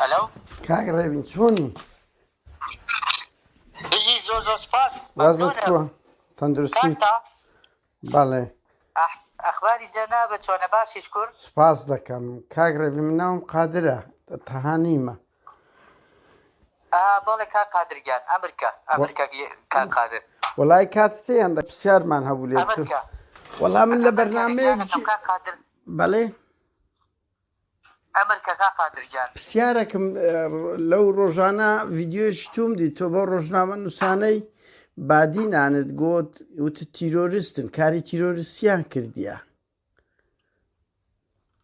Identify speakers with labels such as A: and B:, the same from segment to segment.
A: هەلو کاک ڕێبین چۆنی
B: بژی زۆر زۆر سپاس وازت کووە
A: تەندروستی بەڵێ ئەخباری جەنا بە چۆنە باشیش
B: کورد سپاس دەکەم
A: کاک ڕێبی مناوم قادرە تەهانیمە
B: بەڵێ کاک قادر گیان ئەمر کە ئەمر کە کاک قادر. وەڵای کاتت هەیە
A: ئەمڕۆ پرسیارمان هەبوو لێت ئەمر کە وەڵا من لە بەرنامەیەک جی کاک قادر
B: بەڵێ ئەمر کە کاک قادر گیان پرسیارێکم
A: لەو ڕۆژانە ڤیدیۆیەکی توم دی تۆ بۆ ڕۆژنامە نووسانەی بادینانت گوت وتت تیرۆریستن کاری تیرۆریستیان کردیە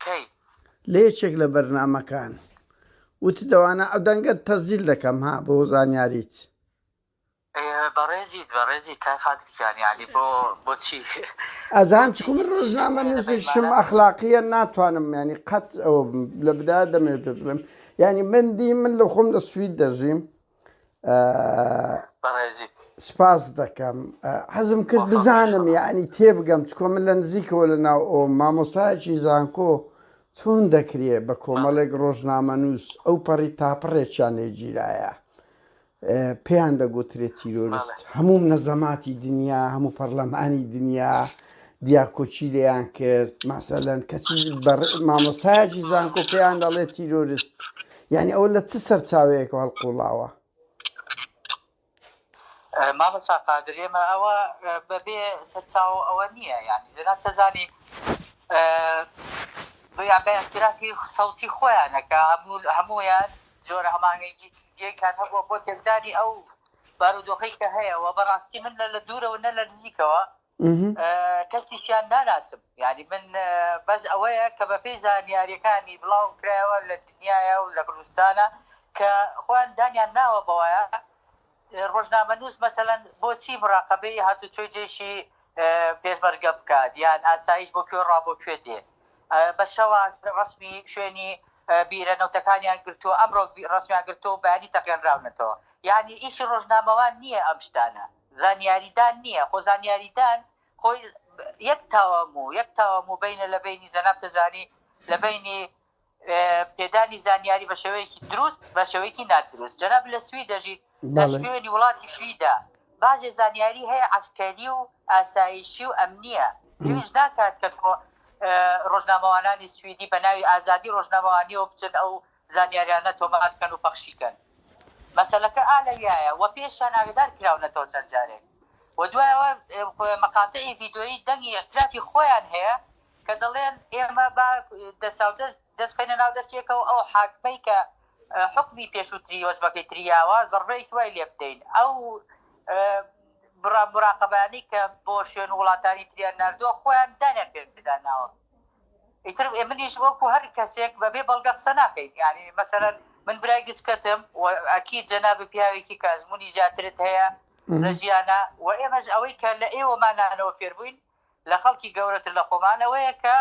A: کەی. لە یەکێک لە بەرنامەکان وت دەوانە ئەو دەنگەت تەسجیل دەکەم ها بۆ زانیاریت. بەڕێزیت
B: بەڕێزی کاک قادر گیان یانی بۆ بۆچی. ئەزان چکو
A: من ڕۆژنامە نوسیشم ئەخلاقیە ناتوانم یانی قەت ئەوە بم لە بدایە دەمەوێت پێت بڵێم یانی من دی من لە خۆم لە سوید دەژیم سپاس دەکەم حەزم کرد بزانم یعنی تێبگەم چکۆ من لە نزیکەوە لە ناو ئەو مامۆستایکی زانکۆ چۆن دەکرێ بە کۆمەڵێک ڕۆژنامە نووس ئەو پەڕی تاپڕێکیان لێگیرایە پێیان دەگوترێ تیرۆریست هەموو نەزەماتی دنیا هەموو پەرلەمانی دنیا دیاکۆچی لێیان کرد ماسەلەن کەچی مامۆستایکی زانکۆ پێیان دەڵێت تیرۆریست یانی ئەوە لە چ سەرچاوەیەکەوە هەڵقوڵاوە؟
B: مامۆستا قادر ئێمە ئەوە بەبێ سەرچاوە ئەوە نییە یعنی جەناب تەزانی بە اعترافی سەوتی خۆیانەکە هەمویان جۆرە هەمانگەیکان هەبووە بۆ تێکدانی ئەو بارودۆخی کە هەیە و بەڕاستی من لە لە دوورەوە نە لە نزیکەوە کەسیشیان ناناسم یانی من بەس ئەوەیە کە بە پێی زانیاریەکانی بڵاو کرایەوە لە دنیاە و لە کوردستانە کە خۆیان دانیان ناوە بەوەیە ڕۆژنامە نووس مەسەەن بۆچی مراقبەی هاتو توی جێشی پێشمەرگە بکات یان ئاسایش بۆ کوێ ڕابۆ کوێ دێ بە شەوە ڕسمی شوێنی بیرە نەوتەکانیان گرتو ئەمڕۆ ڕسمیان گرتو بەیانی تەقێنراونەتەوە یعنی ئیشی ڕۆژنامەوان نییە ئەم شتانە زانیاریدان نییە، خۆ زانیاریدان خۆی یەک تاوان بوو، یەک تاوان بوو بەینە لە بەینی جەناب تەجانی لە بەینی پێدانی زانیاری بە شێوەیەکی دروست بە شێوەیەکی نادروست. جەناب لە سوید دەژیت، لە شوێنی وڵاتی سویدە باجێ زانیاری هەیە عەسکەری و ئاسایشی و ئەمنییە، پێویست ناکات کە ڕۆژنامەوانانی سویدی بە ناوی ئازادی ڕۆژنامەوانییەوە بچن ئەو زانیاریانە تۆمار کەن و پەخشی کەن. مەسەلەکە ئا لەویایە وە پێشیان ئاگەدار کراونەتەوە چەند جارێک وە دوای ئەوە مقاطعی ڤیدۆیی دەنگی ئیعترافی خۆیان هەیە کە دەڵێن ئێمە با دەساودەست دەست بخەینە ناو دەستی یەکەوە ئەو حاکمەی کە حوکمی پێشوتری وەجبەکەی تریاوە زەڕبەیەکی وای لێ بدەین ئەو مراقەبانەی کە بۆ شوێن وڵاتانی تریان ناردووە خۆیان دانیان پێدا ناوە. ئیتر منیش وەکو هەر کەسێک بەبێ بەڵگە قسە ناکەین یانی مەسەلەن من برای گچکەتم و ئەکید جەنابت پیاوێکی کە ئەزمونی زیاترت هەیە لە ژیانا و ئێمەش ئەوەی کە لە ئێوەمانانەوە فێربووین لە خەڵکی گەورەتر لە خۆمان ئەوەیە کە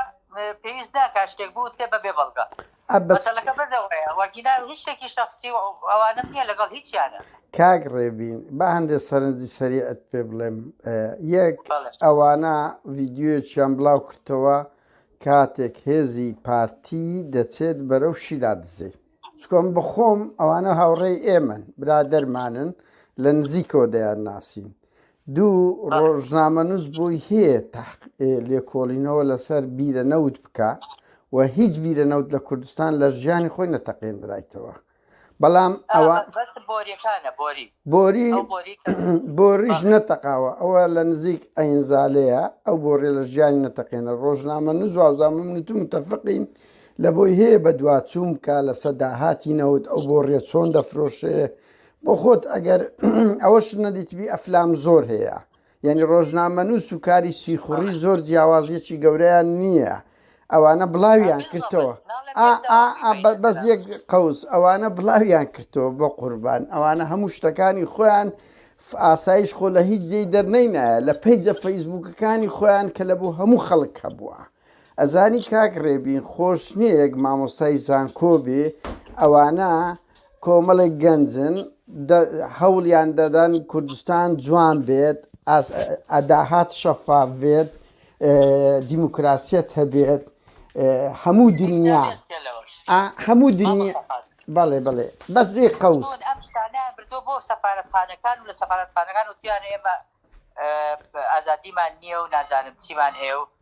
B: پێویست ناکا شتێک بوترێ بەبێ بەڵگە. عەبەس. مەسەلەکە بەردەوایە واگینا هیچ شتێکی شەخسی و ئەوانەم نیە لەگەڵ هیچیانا. کاک ڕێبین
A: با هەندێ سەرنجی سەریعت پێ بڵێم یەک ئەوانە ڤیدیۆیەکیان بڵاو کردتەوە کاتێک هێزی پارتی دەچێت بەرەو شیلا دزێ چکۆ من بەخۆم ئەوانە هاوڕێی ئێمەن برادەرمانن لە نزیکەوە دەیان ناسین دوو ڕۆژنامەنووس بۆی هەیە لێکۆڵینەوە لەسەر بیرە نەوت بکە و هیچ بیرە نەوت لە کوردستان لە ژیانی خۆی نەتەقێنرایتەوە بەڵام ئەوە بۆری بۆریش نەتەقاوە ئەوە لە نزیک ئەینزالەیە ئەو بۆڕێ لە ژیانی نەتەقێنە ڕۆژنامە نوزوازامم نوت متەفقین لە بۆی هەیە بە دواچووم کا لە سەداهاتی نەوت ئەو بۆ ڕێ چۆن دەفرۆشێ بۆ خۆت ئەگەر ئەوەش نەدیتبی ئەفلام زۆر هەیە یعنی ڕۆژنامەنووس و کاری سیخوڕی زۆر جیاوازیەکی گەورەیان نییە ئەوانە بڵاویان کردەوە بەس یەک قوس ئەوانە بڵاویان کردەوە بۆ قوربان ئەوانە هەموو شتەکانی خۆیان ئاسایش خۆ لە هیچ جێی دەرنەینایە لە پیجە فەیسبوکەکانی خۆیان کە لە بۆ هەموو خەڵک هەبووە ئەزانی کاک ڕێبین خۆش نییە یەک مامۆستای زانکۆ بێ ئەوانە کۆمەڵێک گەنجن هەوڵیان دەدەن کوردستان جوان بێت ئەداهات شەفاف بێت دیموکراسیت هەبێت هەموو دنیا هەموو دنیا بەڵێ بڵێ بەس لێ قوس ئەم شتانە بردو بۆ سەفاەتخانەکان و لە
B: سەفاەتخانەکان و تویان ئێمە ئازادیمان نییە و نازانم چیمان هەیە و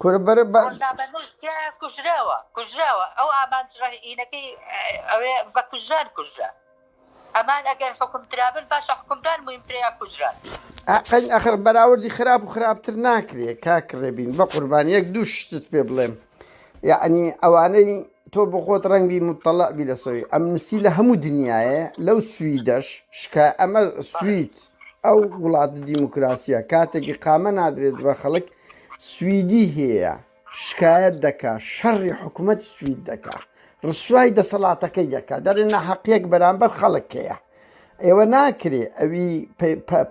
B: کورە بەرە با ڕۆژنا بەهشت تیایە کوژراوە کوژراوە ئەو ئامانج ڕەهینەکەی ئەوێ بە کوژران کوژرا ئەمان ئەگەر حکم درابن باشە حکمدان مویم ترەیە کوژران ئەقەین ئەخر
A: بەراوردی خراپ و خراپتر ناکرێت کاک ڕێبین بە قوربان یەک دوو شتت پێ بڵێم یعنی ئەوانەی تۆ بخۆت ڕەنگی مطلع بی لە سۆی ئەمنسی لە هەموو دنیاە لەو سویدەش شکا ئەمە سوید ئەو وڵات دیموکراسیە کاتێکی قامە نادرێت بە خەڵک سویدی هیە شکایەت دەکا شەڕی حکومەتی سوید دەکا ڕسوای دەسەڵاتەکەی دەکا دەرێ ناحەقیەک بەرامبەر خەڵک هەیە ئێوە ناکرێ ئەوی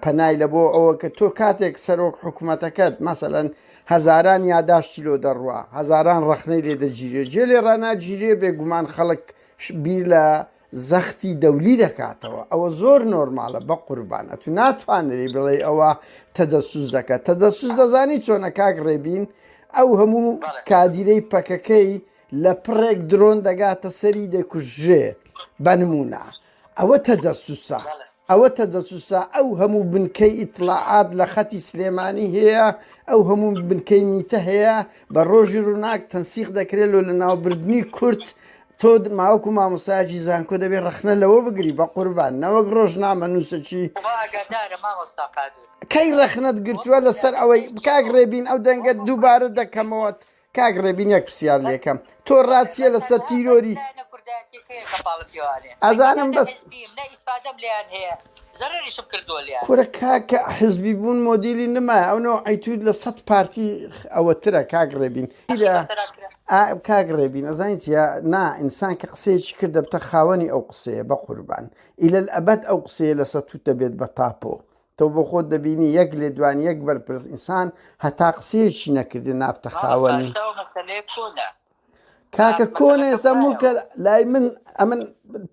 A: پەنای لە بۆ ئەوە کە تۆ کاتێک سەرۆک حکوومەتەکەت مەسەەن هەزاران یاداشتی لۆ دەڕوە هەزاران ڕخنەی لێ دەگیرێ جێ لێ ڕناگیرێ بێگومان خەڵک بیر لە زەختی دەولی دەکاتەوە ئەوە زۆر نۆرمالە بەقوربان ئەتو ناتوانری بڵێی ئەوە تەدەسوس دەکە تەدەسوس دەزانی چۆنە کاک ڕێبین ئەو هەموو کادیرەی پەکەکەی لە پڕێک درۆن دەگاتە سەری دەکوژێ بەنمونە ئەوە تەجەسوسە ئەوەتە دەسوسا ئەو هەموو بنکەی ئیتڵاعات لە خەتی سلێمانی هەیە، ئەو هەموو بنکەی میتە هەیە، بە ڕۆژی ڕووناک تەنسیق دەکرێ لۆ لەناوبردنی کورد، تۆ ماوەکو مامۆستایەکی زانکۆ دەبێ ڕەخنە لەوە بگری بەقوربان نەوەک ڕۆژنامەنووسەکی. خوا ئاگادارە مامۆستا قادر. کەی ڕەخنەت گرتووە لەسەر ئەوەی. کاک ڕێبین ئەو دەنگەت دووبارە دەکەمەوە کاک ڕێبین یەک پرسیار لێکەم تۆ ڕاچیە لەسەر تیرۆری ئەزانم بەس کورە کاکە حزبی بوون مۆدیلی نما ئەونەوە ئەیتود لە سەد پارتی ئەوەترە کاک ڕێبین کاک ڕێبین ئەزانین چە نا ئینسان کە قسەیەکی کرد دەبتە خاوەنی ئەو قسەیە بە قوربان ئیلە ئەبەت ئەو قسەیە لەسەر توت دەبێت بە تاپۆ تۆ بۆ خۆت دەبینی یەک لێدوانی یەک بەرپرس ئینسان هەتا قسەیەکی نەکردی نابتە خاوەنی. کاکە کۆنە ئێستا مڵکە لای من ئەمن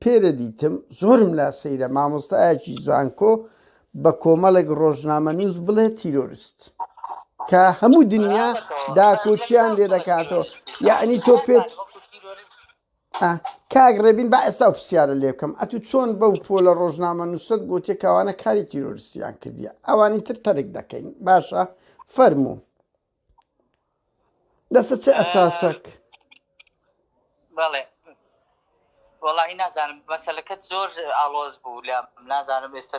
A: پێرە دیتم زۆرم لا سەیرە مامۆستایەکی زانکۆ بە کۆمەڵێک ڕۆژنامە نووس بڵێ تیرۆریست کە هەموو دنیا داکۆچیان لێ دەکاتەوە یعنی تۆ پێت ئا کاک ڕێبین با ئێستا و پرسیارە لێ بکەم ئەتوو چۆن بەو پۆلە ڕۆژنامە نووسەت گوتێ کەوانە کاری تیرۆرستیان کردیە ئەوانی تر تەرک دەکەین باشە فەرموو لەسەر چ ئەساسەک
B: بەڵێ وەڵی نازانم بەسەلەکەت زۆر ئاڵۆز بوو لە نازانم ئێستا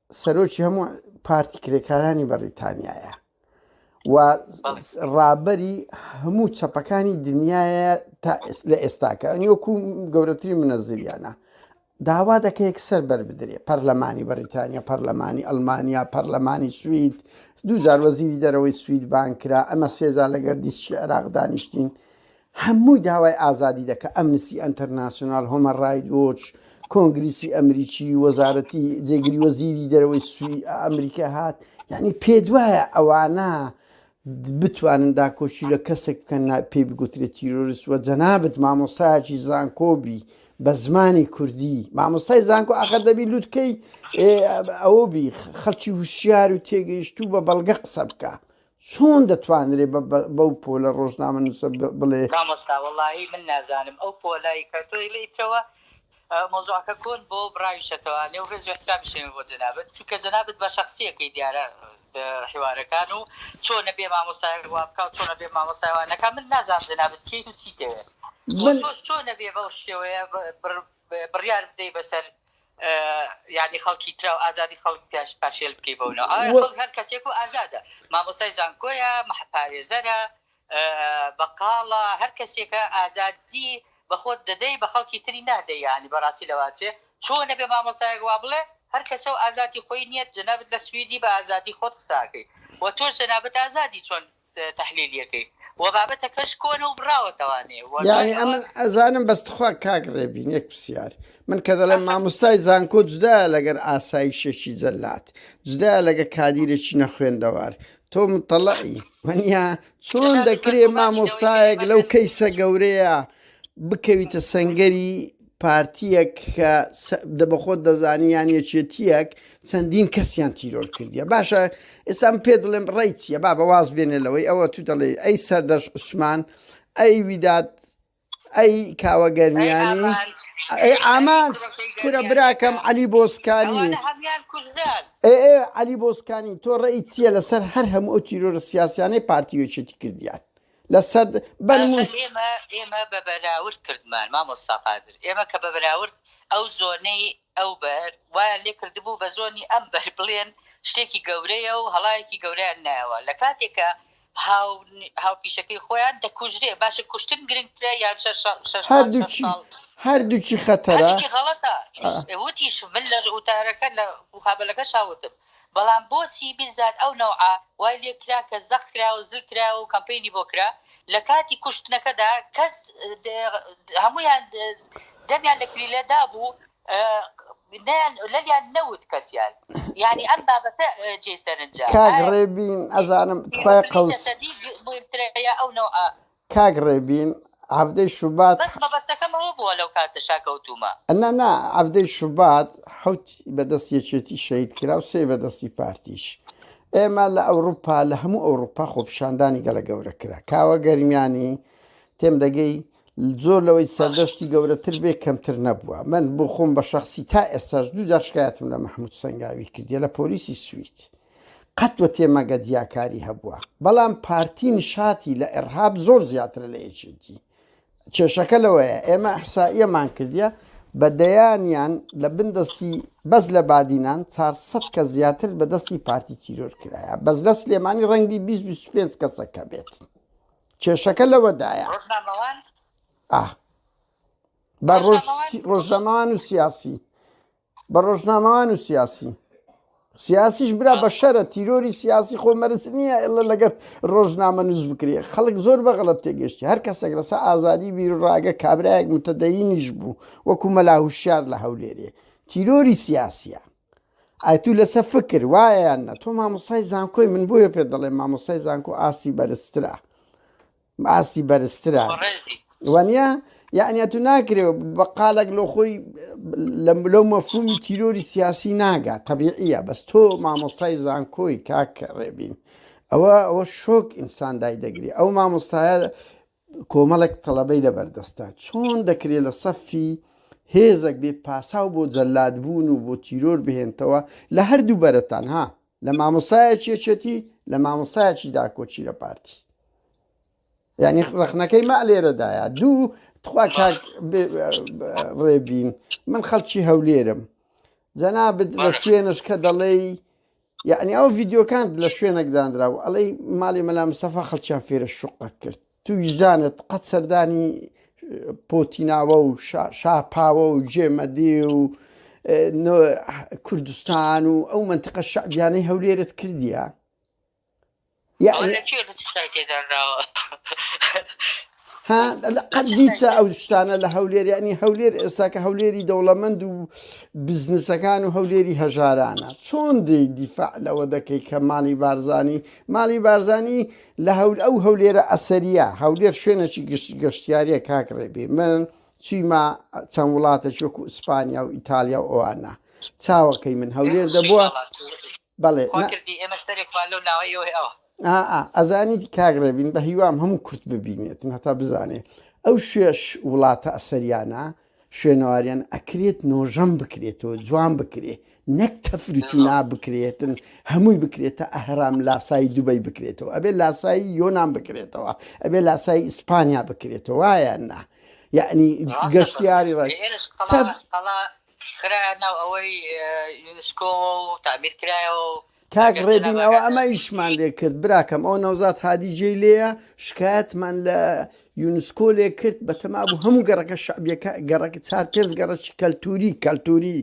A: سەرۆکی هەموو پارتی کرێکارانی بەڕیتانیایە و ڕابەری هەموو چەپەکانی دنیاە تا لە ئێستاکە ئەنیۆکو گەورەتری منەزریانە داوا دەکە یەکسەر بەربدرێ پەرلەمانی بەریتانیا پەرلەمانی ئەلمانیا پەرلەمانی سوید دوجار وەزیری دەرەوەی سوید بانکرا ئەمە سێزار لەگەر دیسکی عێراق دانیشتین هەمووی داوای ئازادی دەکا، ئەمنستی ئەنتەرناسیۆنال، هۆمەن ڕایت وۆچ، کۆنگریسی ئەمریکی، وەزارەتی، جێگری وەزیری دەرەوەی سوی ئەمریکا هات، یەعنی پێتوایە ئەوانە بتوانن داکۆکی لە کەسێک بکەن نا پێی بگوترێ تیرۆرست وە جەنابت مامۆستایەکی زانکۆ بی بە زمانی کوردی مامۆستای زانکۆ ئاخر دەبی لوتکەی ئەوە بی خەڵکی وشیار و تێگەیشتوو بە بەڵگە قسە بکە چۆن دەتوانرێ بەو پۆلە ڕۆژنامە نووسە بڵێ. مامۆستا وەڵاهی
B: من نازانم ئەو پۆلەی کە تۆ ئیلیتەوە مەوزوعەکە کۆن بۆ بڕاویشەتەوە لێو ڕێز وحترامیشێمە بۆ جەنابت چونکە جەنابت بە شخصیەکەی دیارە حیوارەکان و چۆنە بێ مامۆستای وابکە و چۆنە بێ مامۆستای وانەکە من نازانم جەنابت کیت و چی دەوێت چۆش چۆنە بێ بەو شێوەیە بڕیار بدەی بەسەر یانی خەڵکی تراو ئازادی خەڵک پیاش پاشێل بکەی بەو ناو ئایا خەڵک هەر کەسێک و ئازادە مامۆسای زانکۆیە مەحپارێزەرە بەقاڵە هەر کەسێکە ئازادی بەخۆت دەدەی بە خەڵکی تری نادەی یانی بەڕاستی لەواچێ چۆن نەبێ مامۆسایەک وا بڵێ هەر کەسە و ئازادی خۆی نییە جەنابت لە سویدی بە ئازادی خۆت قساکەی و تۆش جەنابت ئازادی چۆن تەحلیلیەکەی وە بابەتەکەش کۆنە و بڕاوەتەوە نێ وە دوای یانی ئەمن
A: ئەوە ئەزانم بەس تخوا کاک ڕێبین یەک پسیار من کە دەڵێم ئەفە ماموستای زانکۆ جودایە لەگەر ئاسایشێکی جەلاد جودایە لەگە کادیرێکی نەخوێندەوار تۆ متەڵەی وەنیا چۆن جەلاد و دەکرێ بەرگومانی گەورەی مامۆستایەک لەو کەیوانێتی کەیسە گەورەیە بکەویتە سەنگەری پارتیەک کە دە بە خۆت دەزانی یان یەکێتیەک چەندین کەسیان تیرۆر کردیە باشە ئێستا من پێ دڵێم ڕێی چیە بابە واز بێنێ لەوەی ئەوە تو دەڵێی ئەی سەردەش عوسمان ئەی ویداد ئەی کاوە گەرمیانی ئەی ئامانج کورە براکەم عەلی بۆسکانی ئەوانە هەموان کوژران ئێ ئێ عەلی بۆسکانی تۆ ڕێی چیە لەسەر هەر هەموو ئەو تیرۆرە سیاسیانەی پارتی و یەکێتی کردیان لەسەر بەرم و. ئاخر ئێمە
B: ئێمە بە بەراورد کردمان مامۆستا قادر ئێمە کە بە بەراورد ئەو زۆنەی ئەو بەر وایان لێ کردبوو بە زۆنی ئەم بەر بڵێن شتێکی گەورەیە و هەڵایەکی گەورەیان نایەوە لە کاتێک کە هاو هاوپیشەکەی خۆیان دەکوژرێ باشە کوشتن گرنگترە یان شەش شەش شەش شەش هەر دووکی ساڵ هەر
A: دووکی خەتەرە هەردووکی غەڵەتە
B: آه. وتیش من لە وتارەکە لە مقابلەکەشا وتم بەڵام بۆچی بیزار ئەو نەوعە وای لێ کرا کە زەق کرایە و زل کرایە و کەمپەینی بۆ کرا لە کاتی کوشتنەکەدا کەس هەموویان دەمیان لە کلیلە دابوو نەیان لەویان نەوت کەسیان یانی ئەم بابەتە جێی سەرنجە کاک ڕێبین
A: ئەزانم تخوای قەوس. جەسەدی
B: مهمترە یا ئەو نەوعە کاک ڕێبین
A: حەڤدەی شوبات. بەس مەبەستەکەم ئەوە
B: بووە لەو کاتەشا کەوتوومە. نا نا حەڤدەی
A: شوبات حەوت بە دەست یەکێتی شەهید کرا و سێ بە دەستی پارتیش. ئێمە لە ئەوروپا لە هەموو ئەوروپا خۆپیشاندانی گەلە گەورە کرا. کاوە گەرمیانی تێم دەگەی زۆر لەوەی سەردەشتی گەورەتر بێ کەمتر نەبووە. من بۆ خۆم بە شەخسی تا ئێستاش دوو جار شکایەتم لە مەحموود سەنگاوی کردیە لە پۆلیسی سوید. قەت و تێمەگە جیاکاری هەبووە بەڵام پارتی نشاتی لە ئێڕهاب زۆر زیاترە لە یەکێتی کێشەکە لەوەیە ئێمە ئەحسائیەمان کردە بە دەیانیان لە بن دەستی بەس لە بادینان 400 کە زیاتر بە دەستی پارتی تیرۆر کرایە بەس لە سلێمانی ڕەنگی 25 کەسەکە بێت کێشەکە لەوەدایە بە ڕۆژەمان و سیاسی بە ڕۆژنامەوان و سیاسی سیاسیش برا بە شەرە تیرۆری سیاسی خۆ مەرز نییە ئلە لەگەر ڕۆژنامە نووز بکرێ خەڵک زۆر بەغڵەت تێگەشتی هەر کەسێک لەسا ئازادی بیرڕاگە کابراایەک متەدەینیش بوو وەکو مەلاهوشار لە هەولێرێ تیرۆری سیاسە ئایتو لەسە فکر وایەیان نە تۆ مامۆسای زانکۆی من بۆیە پێ دەڵێ مامۆسای زانکۆ ئاستی بەرزترە ئاستی بەرزترە وانە یعنی تو ناکرێ بە قالێک لۆ خۆی لەو مەفهومی تیرۆری سیاسی ناگا طبیعە بەس تۆ مامۆستای زانکۆی کاک ڕێبین ئەوە ئەوە شۆک ئینسان دای دەگری ئەو مامۆستایە کۆمەڵێک تەڵەبەی لە بەردەستە چۆن دەکرێت لە سەفی هێزەک بێ پاساو بۆ جەلادبوون و بۆ تیرۆر بهێنتەوە لە هەردوو بەرەتان ها لە مامۆسایەکی یەکێتی لە مامۆسایەکی داکۆچی لە پارتی یعنی ڕخنەکەی ما لێرەدایە دوو تخوا کاک ڕێبین من خەڵکی هەولێرم جەنابت لە شوێنش کە دەڵێ یعنی ئەو ڤیددیوکان لە شوێنێکدانرا و ئەڵەی ماڵی مەلا مسەفا خەڵکیان فێرە شوقە کرد تو ویژدانت قەت سەردانی پۆتیناوە و شاپاوە و جێمەدی و کوردستان و ئەو منتقە شعبیانەی هەولێرت کردیە قەدیتە ئەو شتانە لە هەولێر ینی هەولێر ئێستاکە هەولێری دەوڵەمەند و بزنسەکان و هەولێری هەژارانە چۆن دی دیفاع لەوە دەکەی کە ماڵی بارزانانی ماڵی بارزانانی لە هەول ئەو هەولێرە ئەسەریە هەولێر شوێنەکی گشت گەشتیاریە کاک ڕێبی من چیما چەند وڵاتەش وەکو ئیسپانیا و ئیتالیا و ئەوانە چاوەکەی من هەولێر دەبووە بەڵێ ئەزانی کاک ڕێبین بە هیوام هەموو کورت ببینێتن هەتا بزانێ ئەو شوێش وڵاتە ئەسەریانە شوێنەواریان ئەکرێت نۆژەن بکرێتەوە جوان بکرێ نەک تەفرو تینا بکرێتن هەمووی بکرێتە ئەهرام لاسایی دوبەی بکرێتەوە ئەبێ لاسایی یۆنان بکرێتەوە ئەبێ لاسایی ئیسپانیا بکرێتەوە وایە نا یعنی ڕاستە گەشتیاری ڕای ئێرش قەڵا تەف
B: قەڵا خرایە ناو ئەوەی یونسکۆوە و تعمیر کرایەوە و
A: کاک ئەگەر ڕێبین جەنابت ئەوە ئەگاتە ئەمە شکووش ئیشمان بوویت لێ کرد براکەم ئەو نەوزات هادی جێی لێیە شکایەتمان لە یونسکۆ لێ کرد بە تەما بوو هەموو گەڕەکە شعبیەکە گەڕەکە چار پێنج گەڕەکی کەلتوری کەلتوری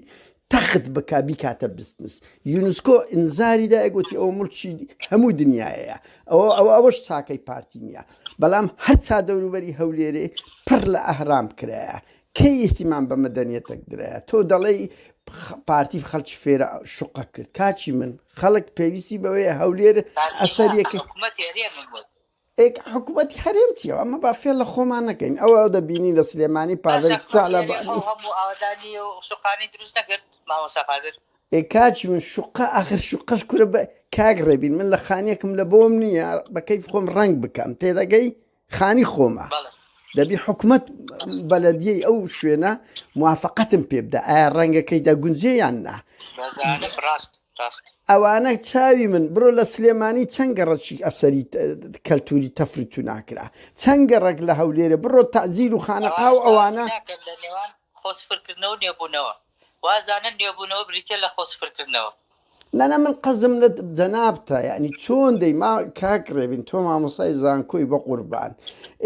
A: تەخت بکا بیکاتە بزنس یونسکۆ ئینزاری دایە گوتی ئەوە مڵکی هەموو دنیاەیە ئەوە ئەوە ئەوەش چاکەی پارتی نییە بەڵام هەر چا دەوروبەری هەولێرێ پڕ لە ئەهرام کرایە کەی ئیهتیمام بە مەدەنیەتەک درایە تۆ دەڵێی پارتی خەڵکی فێرە شوقە کرد کاکی من خەڵک پێویستی بەوەیە هەولێر ئەسەریەکە ئێک حکوومەتی هەرێم چیەوە ئەمە با فێ لە خۆمان نەکەین ئەوە دەبینی لە سلێمانی پاڤل شقانی دروست نەکرد مامۆسا قادر ئێکاچ من شوقا ئاخر شوقەش کورە بە کاک ڕێبین من لە خانیەکم لە بۆم نییە بەکەی خۆم ڕنگ بکەم تێدەگەی خانی خۆمە بەڵێ دەبی حکومەت بەلەدیەی ئەو شوێنە موافقەتم پێ بدە ئایا ڕەنگەکەی دەگونجێ یان نا بەزانم ڕاست ڕاست ئەوانە چاوی من بڕۆ لە سلێمانی چەند گەڕەکی ئەسەری ت- کەلتوری تەفر تو ناکرا چەند گەڕک لە هەولێرە بڕۆ تەزیل و خانەقا و ئەوانە ناکەن لە نێوان خۆ
B: سفرکردنەوە و نێبوونەوە وازانن نوێبوونەوە بریتیە لە خۆ سفر کردنەوە. نانا من
A: قەزم لە جەنابتە یەعنی چۆن دەی ما کاک ڕێبین تۆ مامۆستای زانکۆی بەقوربان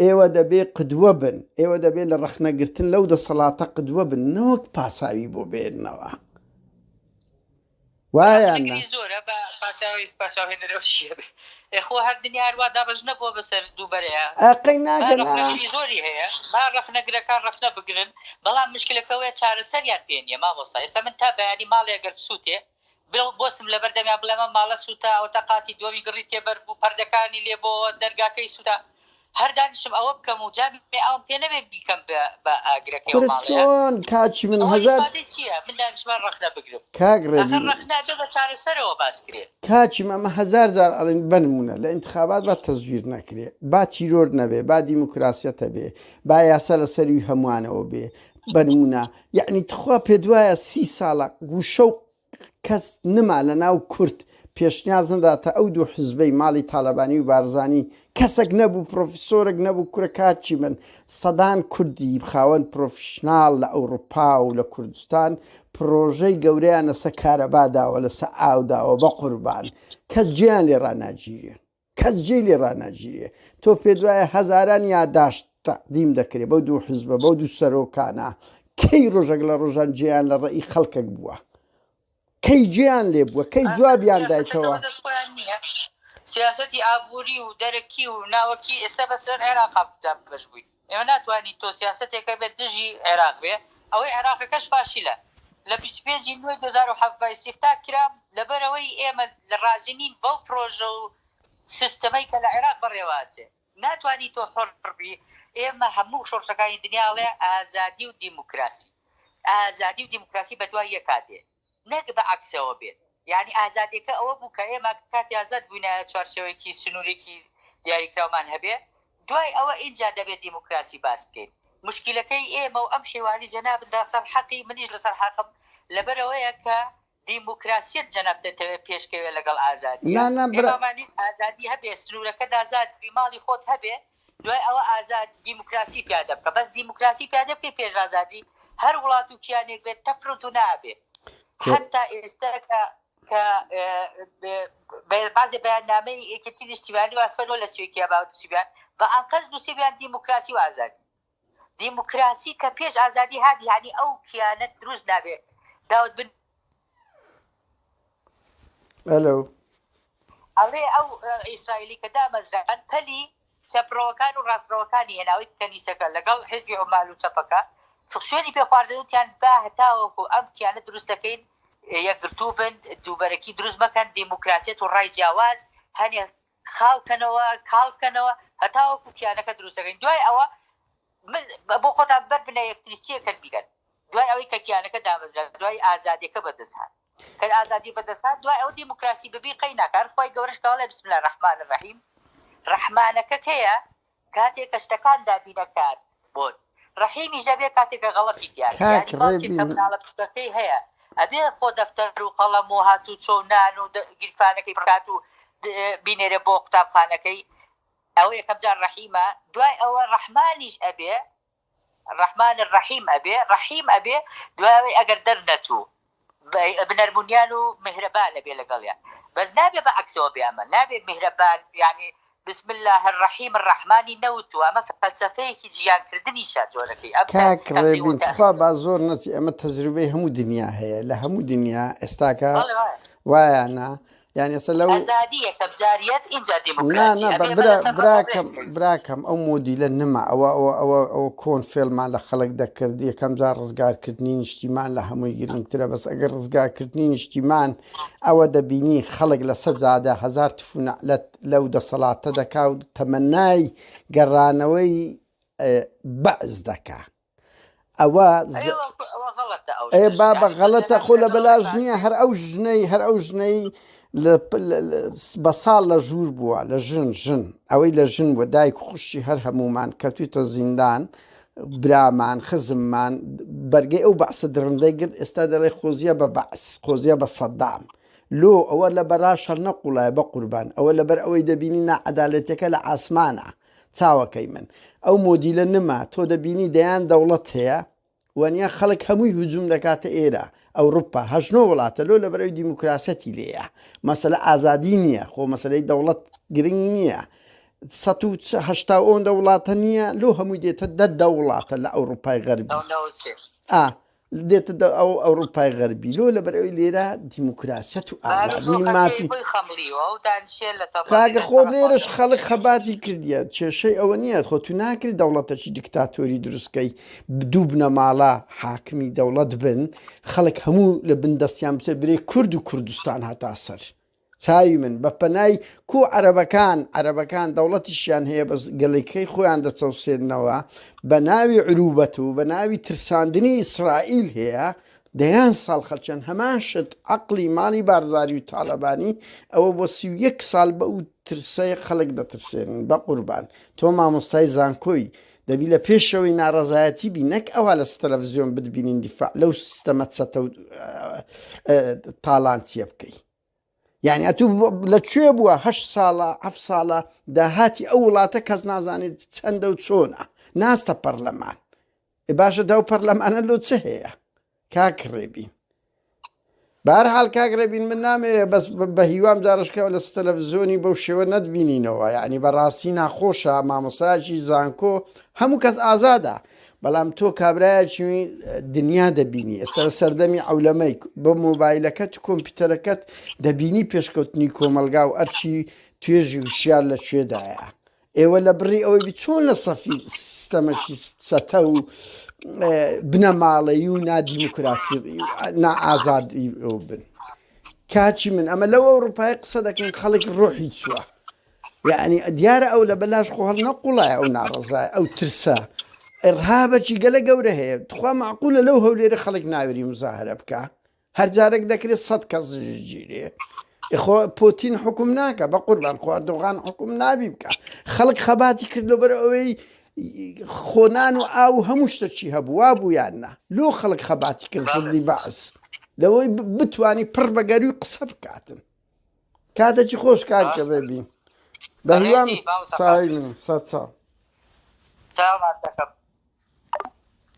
A: ئێوە دەبێ قدوە بن ئێوە دەبێ لە ڕەخنە گرتن لەو دەسەڵاتە قدوە بن نەوەک پاساوی بۆ بێننەوە. وایاننا. زۆرە بە
B: پاساوی پاساوی نرۆشیە بێ ئێ خۆ هەر دنیا هەر وا دابەش نەبووە بەسەر دوو بەرەیا ئەقەی ناگەن ئا.
A: ڕەخنەشی زۆری هەیە
B: با ڕەخنەگرەکان ڕەخنە بگرن بەڵام مشکلەکە ئەوەیە چارەسەریان پێ نییە مامۆستا ئێستا من تا بەیانی ماڵێ ئەگەر بسووتێ بڵێ بۆسم لەبەر دەمیان بڵێم ئەم ماڵە سووتا ئەوەتا قاتی دووەمی گڕی تێ بەربوو پەردەکانی لێ بۆوە دەرگاکەی سووتا هەر دانیشم ئەوە بکەم و جا بێ ئاوم پێ نەبێ بیکەم بە ئاگرەکەی ئەو ماڵەیە؟ کورە چۆن کاکی من هەزار. ئەوە ئیسپاتەی
A: چییە من دانیشمە رەخنە
B: بگرم؟ کاک ڕێبین. ئاخر رەخنە
A: ئەبێ بە چارەسەرەوە
B: باس کرێ. کاکی من ئەمە هەزار
A: جار ئەڵێم بە نموونە لە ئینتخابات با تەزویر نەکرێ با تیرۆر نەبێ با دیموکراسیەت هەبێ با یاسا لە سەروی هەمووانەوە بێ بە نموونە یەعنی تخوا پێت وایە سی ساڵە گوشە و کەس نما لە ناو کورد پێشنیاز نداتە ئەو دوو حزبەی ماڵی تالەبانی و بارزانی کەسەک نەبوو پرۆفیسۆرەک نەبوو کورە کار چی بن سەدان کوردی خاوەن پرۆفیشناڵ لە ئەوروپا و لە کوردستان پرۆژەی گەورەیان لەسە کارەبا داوە لەسە ئاو داوە بەقوربان کەس جێیان لێ ڕاناگیرێ. کەس جێی لێ ڕاناگیرێ. تۆ پێت وایە هەزاران یاداشت تەقدیم دەکرێ بەو دوو حزبە، بەو دوو سەرۆکانە، کەی ڕۆژەک لە ڕۆژان جێیان لە ڕێی خەڵکەک بووە؟ کەی جێیان لێ بووە؟ کەی جوابیان دایتەوە؟ سیاسەتی
B: ئابووری و دەرەکی و ناوەکی ئێستا بەسەر عێراقا دابەش بووین. ئێمە ناتوانین تۆ سیاسەتێکە بێت دژی عێراق بێ ئەوەی عێراقەکەش فاشیلە لە بیست و پێنج ی نۆی دوو هەزار و حەڤدە ئیستیفتاح کرا لەبەرئەوەی ئێمە رازی نین بەو پرۆژە و سیستەمەی کە لە عێراق بەڕێوە ئەچێ ناتوانی تۆ حۆڕ بی ئێمە هەموو شۆڕشەکانی دنیا ئەڵێ ئازادی و دیموکراسی ئازادی و دیموکراسی بەدوای یەکا دێ. نەک بە عەکسەوە بێت، یانی ئازادیەکە ئەوە بوو کە ئێمە کاتی ئازاد بوینایە چوارچێوەیەکی سنورێکی دیاریکراومان هەبێ دوای ئەوە ئینجا دەبێ دیموکراسی باس بکەین موشکیلەکەی ئێمە و ئەم حیواری جەنابت لەسەر حەقی منیش لەسەر حەقم لەبەرئەوەیە کە دیموکراسیەت جەنابت دەتەوێ پێشکەوێ لەگەڵ ئازادیە نا نا برا. ئێمامان ویست ئازادی هەبێ سنورەکەت ئازاد بی ماڵی خۆت هەبێ دوای ئەوە ئازاد دیموکراسی پیادە بکە بەس دیموکراسی پیادە بکەی پێش ئازادی هەر وڵات و کیانێک بێت تەفروت و نابێ حتا ئێستا کە کە بازێ بەیاننامەی یەکێتی نیشتیمانی وافەرۆ لە سوێکیا باوتوسیبیان بە ئەنقەست نووسیبیان دیموکراسی و ئازادی دیموکراسی کە پێش ئازادی هادی هانی ئەو کیانە دروست نابێ داوت بن. ئەلو. ئەڵێ ئەو ئیسرائیلی کە دامەزران پەلی چەپڕەوەکان و ڕاستڕەوەکانی هێناوی کەنیسەکە لەگەڵ حزبی عمال و چەپەکە فکسێنی پێ خواردنوتیان با هەتاوەکو ئەم کیانە دروست دەکەین یەکگرتوو بن دووبەرەکی دروست مەکەن دیموکراسیەت و ڕای جیاواز هەنێ خاو کەنەوە کاڵ کەنەوە هەتاوەکو کیانەکە دروست دەکەین دوای ئەوە بۆ خۆتان بەر بنە یەکتری چیەکەن بیکەن دوای ئەوەی کە کیانەکە دامەزرا دوای ئازادیەکە بەدەستهات کە ئازادی بەدەستهات دوای ئەو دیموکراسی ببی قەی ناکار خۆی گەورەش کاڵێ بسم لە ڕحمان ڕحیم ڕحمانەکە کەیە کاتێ کە شتەکان دابینە کات بۆت ڕەحیمی ژەبێ کاتێ کە غەڵەتی تیابی یانی باوکێ کە مناڵە بچوکەکەی هەیە ئەبێ خۆ دەفتەر و قەڵەم و هاتوو چۆ و نان و گیرفانەکەی بڕات و بینێرێ بۆ قوتابخانەکەی ئەوە یەکەم جار ڕەحیمە دوای ئەوە ڕەحمانیش ئەبێ ڕەحمان ڕەحیم ئەبێ ڕەحیم ئەبێ دوای ئەوەی ئەگەر دەرنەچوو بنەرمونیان و میهرەبان ئەبێ لەگەڵیان بەس نابێ بە عەکسەوە بێ ئەمە نابێ میهرەبان یانی بسم اللە الرحیم الرحمانی نەوتوە ئەمە فەلسەفەیەکی جیان کردنیشە جۆرەکەی ئەم کاک ڕێبین
A: تخوا با زۆر نەچی ئەمە تەجروبەی هەموو دنیا هەیە لە هەموو دنیا ئێستاکە وایانە یانی ئەسە لەو ئەزادی یەکەم جاریەت ئینجا دیموکراسی ئەبێ نا نا براکەم براکەم ئەو مۆدیلە نما ئەوە ئەوە ئەوە ئەوە کۆن فێلمان لە خەڵک دەکرد یەکەم جار ڕزگارکردنی نیشتیمان لە هەمووی گرنگترە بەس ئەگەر ڕزگارکردنی نیشتیمان ئەوە دەبینی خەڵک لە سە جادە هزار تفونەلەت لەو دەسەڵاتە دەکاوت تەمەنای گەڕانەوەی بەعز دەکا. ئەوە بابە غەڵەتە خۆ لە بەلاژ نییە هەر ئەو ژنەی هەر ئەو ژنەی بە ساڵ لە ژوور بووە لە ژن ژن ئەوەی لە ژن بووە دایک خوشتی هەر هەمومان کەوتویتە زیندان برامان خزممان بەرگەی ئەو بەعسە درڕندەی گرت ئێستا دەڵێ خۆزیە بە بەعس خۆزیە بە سەددام لۆ ئەوە لە بەراش هەر نەقوڵایە بە قوربان ئەوە لەبەر ئەوەی دەبینی ناعەدالەتەکە لە ئاسمانە چاوەکەی من ئەو مۆدیلە نما تۆ دەبینی دەیان دەوڵەت هەیە وەنیا خەڵک هەمووی هجوم دەکاتە ئێرە ئەوروپا هەشت نۆ وڵاتە لۆ لە بەرەوی دیموکراسەتی لێە مەسەلە ئازادی نییە خۆ مەسلەی دەوڵەت گرنگ نییە سەد و هەشتا ئەوەندە وڵاتە نییە لۆ هەمووی دێتە دە دە وڵاتە لە ئەوروپای غەربی ئا دێتە دە ئەو ئەوروپای غەربی لۆ لەبەر ئەوی لێرە دیموکراسیەت و ئازادی و مافی کاگە خۆ لێرەش خەڵک خەباتی کردیە کێشەی ئەوە نییە خۆ تو ناکری دەوڵەتەکی دکتاتۆری دروستکەی دوو بنەماڵە حاکمی دەوڵەت بن خەڵک هەموو لە بندەستیان بچە برێ کورد و کوردستان هەتا سەر. چاوی من بە پەنای کو عەرەبەکان عەرەبەکان دەوڵەتیشیان هەیە بەس گەلیکەی خۆیان دەچەوسێننەوە بە ناوی عروبەت و بە ناوی ترساندنی ئیسرائیل هەیە دەیان ساڵ خەلچەن هەمان شت عەقلی ماڵی بارزاری و تاڵەبانی ئەوە بۆ سی و یەک ساڵ بە و ترسەی خەلک دەترسێنن بە قوربان تۆ مامۆستای زانکۆی دەبی لە پێشەوەی ناڕەزایەتی بی نەک ئەوا لە ستەلەفزیۆن بتبینین دیفاع لەو سیستەمە چەتە و تاڵانچیە بکەی یعنی ئەتو لە کوێ بووە هە ساڵە ئەف ساڵە داهاتی ئەو وڵاتە کەس نازانێت چەندە و چۆنە ناستە پەرلەمان باشە داو پەرلەمانە لۆ چ هەیە کاک ڕێبین بار حال کاک ڕێبین من نامێ بەس بە هیوام جارشکەوە لە ستەلەڤزیۆنی بەو شێوە نەتبینینەوە یعنی بەڕاستی ناخۆشە مامۆساجی زانکۆ هەموو کەس ئازادە بەڵام تۆ کابراایکی دنیا دەبینی ئێستا لە سەردەمی ئەولەمەی بە مۆبایلەکەت کۆمپیوتەرەکەت دەبینی پێشکەوتنی کۆمەلگا و ئەرچی توێژی وشار لە شوێدایە ئێوە لە بڕی ئەوەی بی چۆن لە سەفی سستەمەکی چەتە و بنەماڵەی و نادیموکراتی نائازادی بن کاچی من ئەمە لەو ئەوروپای قسە دەکەین خەڵک ڕۆحی چووە یعنی دیارە ئەو لە بەلاش خۆ هەڵ نەقوڵای ئەو ناڕزای ئەو ترسە ڕهابەکی گەلە گەورە هەیە تخوا معقولە لەو هەولێرە خەڵک ناوێری مزاهرە بکە هەر جارەک دەکرێت سەد کەس ژگیرێ خۆ پۆتین حکوم ناکە بە قوربان خواردۆغان حکوم نابی بکە خەڵک خەباتی کردو بەر ئەوەی خۆنان و ئاو هەموو شتەکی هەبووە بوویان نا لۆ خەڵک خەباتی کرد زڵی بەعس لەوەی بتانی پڕ بەگەروی قسە بکاتن کاتەکی خۆش کار کردێ بین بە هیوام ساوی سەر چاو.